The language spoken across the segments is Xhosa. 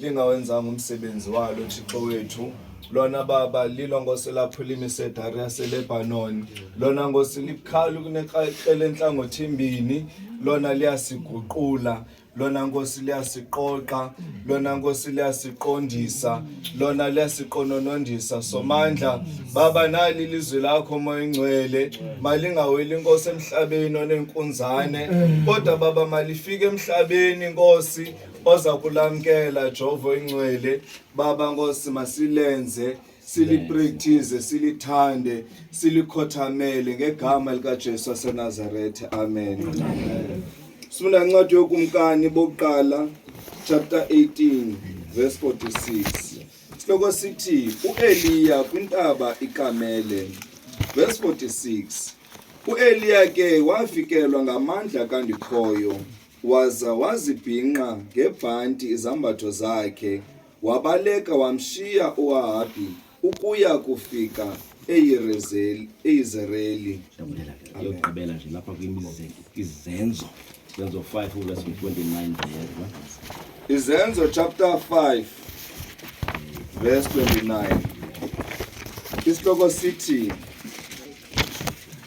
lingawenzanga umsebenzi walo thixo wethu lona baba lilo ngosi lapho limisedari yaselebhanoni lona ngosi likhalu kunekrele entlangothi mbini lona liyasiguqula lona nkosi liyasiqoqa lona nkosi liyasiqondisa lona liyasiqononondisa somandla baba nali ilizwi lakho moya ingcwele malingaweli inkosi emhlabeni onenkunzane kodwa baba malifike emhlabeni nkosi oza kulamkela jovo ingcwele baba nkosi masilenze siliprekthize silithande silikhothamele ngegama likajesu wasenazarethe amen sifunda incwadi yokumkani bokuqala chapter 18 verse 46 sihloko sithi ueliya kwintaba ikamele verse 46 ueliya ke wafikelwa ngamandla kandikhoyo Waza wazibhinqa ngebhanti izambatho zakhe, wabaleka wamshiya uAhabi ukuya kufika eYirezeli, eYizereli. Ndabulala ke. Yokugqibela nje lapha kwimize izenzo. Izenzo 5 verse 29 ndiyeva. Izenzo chapter 5 verse 29. Isihloko sithi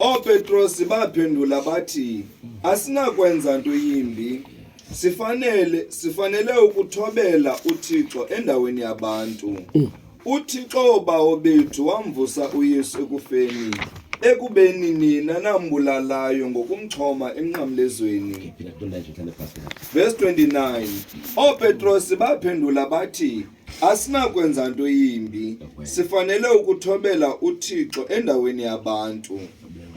OoPetrosi baphendula bathi, Asinakwenza nto yimbi. Sifanele sifanele ukuthobela uThixo endaweni yabantu. UThixo bawo bethu wamvusa uYesu ekufeni, ekubeni nina nambulalayo ngokumchoma emnqamlezweni. Verse 29. OoPetrosi baphendula bathi, Asinakwenza nto yimbi. Sifanele ukuthobela uThixo endaweni yabantu.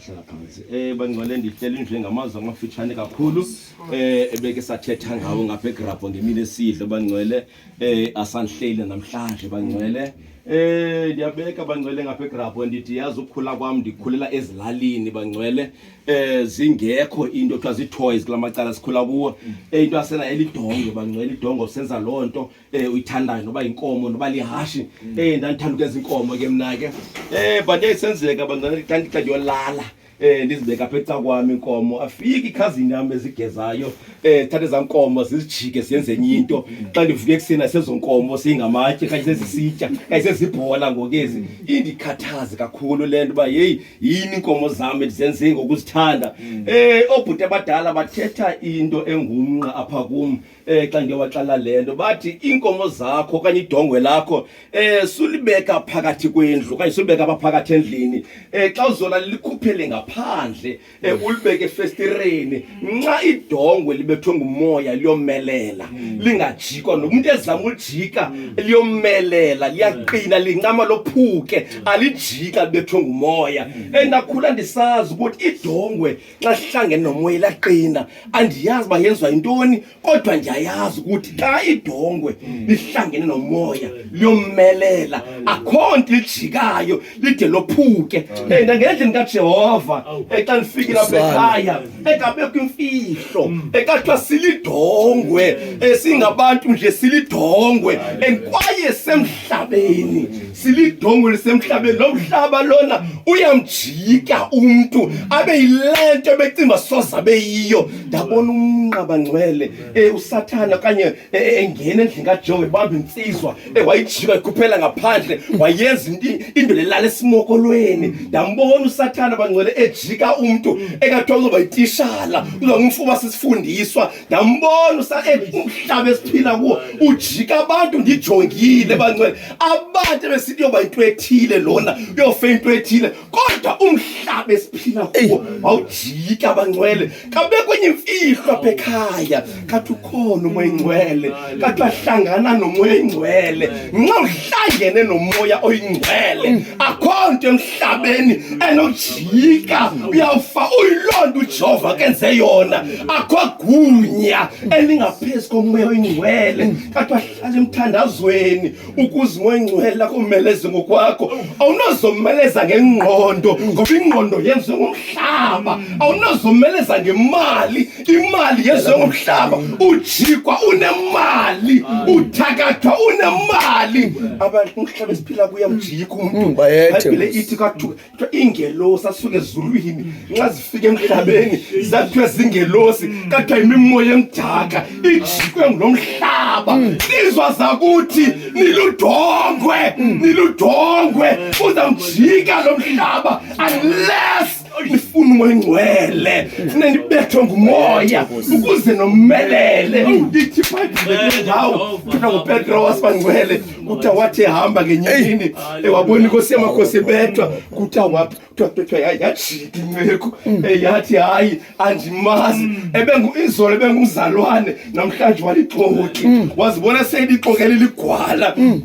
Hlala phansi. Eh bangcwele ndihlela indlu ngamazwi amafitshane kakhulu. Eh ebeke sathetha ngawo ngapha egrabho ngemini esidlo bangcwele eh asanhleli namhlanje bangcwele. Eh ndiyabeka bangcwele ngapha egrabho ndithi yazi ukukhula kwam ndikhulela ezilalini bangcwele eh zingekho into kuthiwa zii-toys kula macala sikhula kuwo. Eh into yasenayo elidongo bangcwele idongo senza loo nto eh uyithandayo noba inkomo noba lihashi mm. eh ndandithanda ukwenza inkomo ke mna ke eh but yayisenzeka bantwana xa ndixa ndiyolala eh ndizibeka apha eca kwam inkomo afike ikhazini yam ezigezayo eh thathe za nkomo zizijike ziyenze enye into mm. xa ndivuke ekuseni asezo nkomo siyingamatye kanye sezisitya kanye sezibhola ngokezi mm. indikhathaze kakhulu le nto uba yeyi yini inkomo zam ndizenze ngokuzithanda um eh, oobhuti abadala bathetha into engumnqa apha kum eh xa ndiyowaxela le nto bathi iinkomo zakho okanye idongwe lakho eh sulibeka phakathi kwendlu okanye sulibeka apha phakathi endlini eh xa uzona likhuphele ngaphandle eh mm. ulibeke efestireni nxa idongwe libethwe ngumoya liyomelela mm. lingajikwa nomuntu ezama ulijika mm. liyomelela liyaqina lincama lophuke alijika libethwe ngumoya endakhula eh, ndisazi ukuthi idongwe xa sihlangene nomoya ilaqina andiyazi uba yenziwa yintoni kodwa ndiyayazi ukuthi xa idongwe lihlangene nomoya liyommelela akho nto lijikayo lide lophuke and ngendlini kajehova xa ndifikile apha ekhaya ekabekho imfihlo ekathiwa silidongwe esingabantu nje silidongwe and kwaye semhlabeni silidongo lisemhlabeni lo mhlaba lona uyamjika umntu abe yile nto ebecinga soza beyiyo ndabona umnqaba ngcwele um usathana okanye e, e, engena endlini kajonge bambe intsizwa ewayijika ikhuphela ngaphandle wayenza indoda elala esimokolweni ndambona usathana bangcwele ejika umntu engathiwa uzoba yitishala uzoba ngumfuba sisifundiswa ndambona umhlaba esiphila kuwo ujika abantu ndijongile bancwele abantu ebesithi yoba into ethile lona uyofe into ethile kodwa umhlaba esiphila kuwo wawujika bancwele kabekwenye imfihlo apha ekhaya kathi ukhona umoya ingcwele kade wahlangana nomoya oyingcwele nxa uhlangene nomoya oyingcwele akho nto emhlabeni enojika uyawufa uyiloo nto ujehova kenze yona akho gunya elingaphezu komoya oyingcwele kade wahlala emthandazweni ukuze umoya oyingcwele akomeleze ngokwakho awunozomeleza ngengqondo ngoba ingqondo yenziwe ngomhlaba awunozomeleza ngemali imali yezomhlaba ujikwa unemali uthakathwa unemali abantu umhlaba esiphila kuya mjikwa umuntu bayethebile ithi kwathiwa iingelosi asuke ezulwini nxa zifika emhlabeni zathiwa zingelosi kathiwa yimimoya emdaka ijikwe ngulo mhlaba lizwa zakuthi niludongwe niludongwe uzamjika lo mhlaba unless ndifuna umoya ingcwele funa ndibethwe ngumoya ukuze nomelele ndithi phaindawo kuthiwa ngupetro wasibangcwele kuthiwa wathi ehamba ngenyini ewabona inkosi yamakhosi ebethwa kuthiwa waphi kuthiwa kuthiwa yajika inceku yathi hayi andimazi mm. ebenguizolo ebengumzalwane namhlanje walixoki mm. wazibona seyilixokele ligwala mm.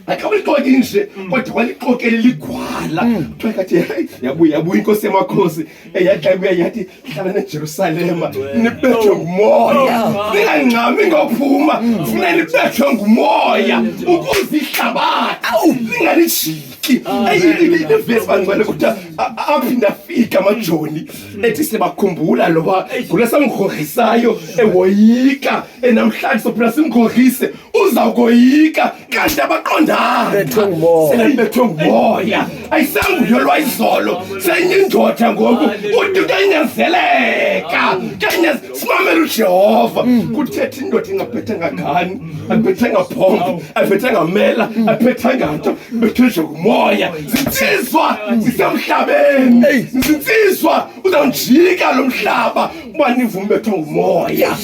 akamlixoki nje mm. kodwa walixokele ligwala mm. kuthiwa kathi heyi yabuya yabuya inkosi yamakhosi eyadla ibuya yathi hlala nejerusalema nibethwe ngumoya oh, ningangxami ngophuma mm. funa nibethwe ngumoya ukuze ihlabathi lingalijiki eyilivesi bangcwele kuthiwa aphinde afike amajoni ethi sibakhumbula loba gula samngorhisayo ewoyika enamhlanje sophila simngorhise uzawukoyika kanti abaqondanibethwe ngumoya ayisanguyo lwayizolo senye indoda ngoku uthi utanyazeleka simamela ujehova kuthetha indoda ingabhethanga ngani abhethanga phombo abhethanga mela abhethanga nto ibethwe nje ngumoya zinsizwa zisemhlabeni zinsizwa uzawunjika lo mhlaba uba nivume bethwa ngumoya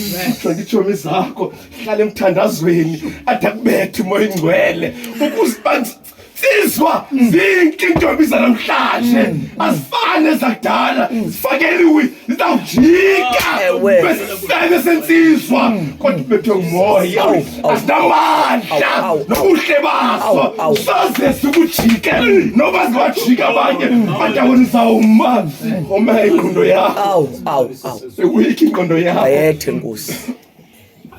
nditshomi zakho hlala emthandazweni ade akubethe umoya ingcwele ukuze bansizwa zinke intombi zanamhlanje azifane zakudala zifakeliwe zizawujika besisebe sensizwa kodwa ubethwe ngumoya azinamandla nobuhle baso soze sikujike noba ziwajika abanye badawoni zawuma oma ingqondo yakho sewuyikho ingqondo yakho ayethe nkosi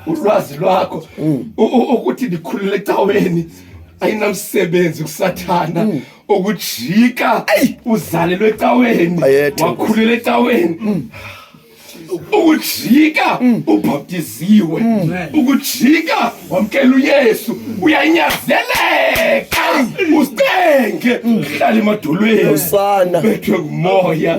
ulwazi lwakho mm. ukuthi ndikhulule ecaweni ayinamsebenzi kusathana mm. ukujika uzalelwe ecaweni wakhulela ecaweni mm. ukujika mm. ubhaptiziwe mm. ukujika wamkela uyesu uyanyazeleka usicenge uhlala emadolweni bethwe ngumoya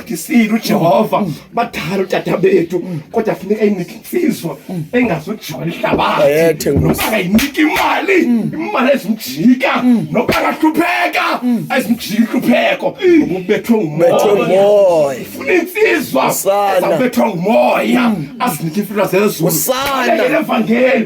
ndisile ujehova badala utata bethu kodwa funeka inike intsizwa engazujola ihlabathi noba kayinike imali imali ezimjika noba kahlupheka ezimjika inhlupheko ubethwe ngumoya funa intsizwa ezabethwa ngumoya azinike imfuna zezuluevangeli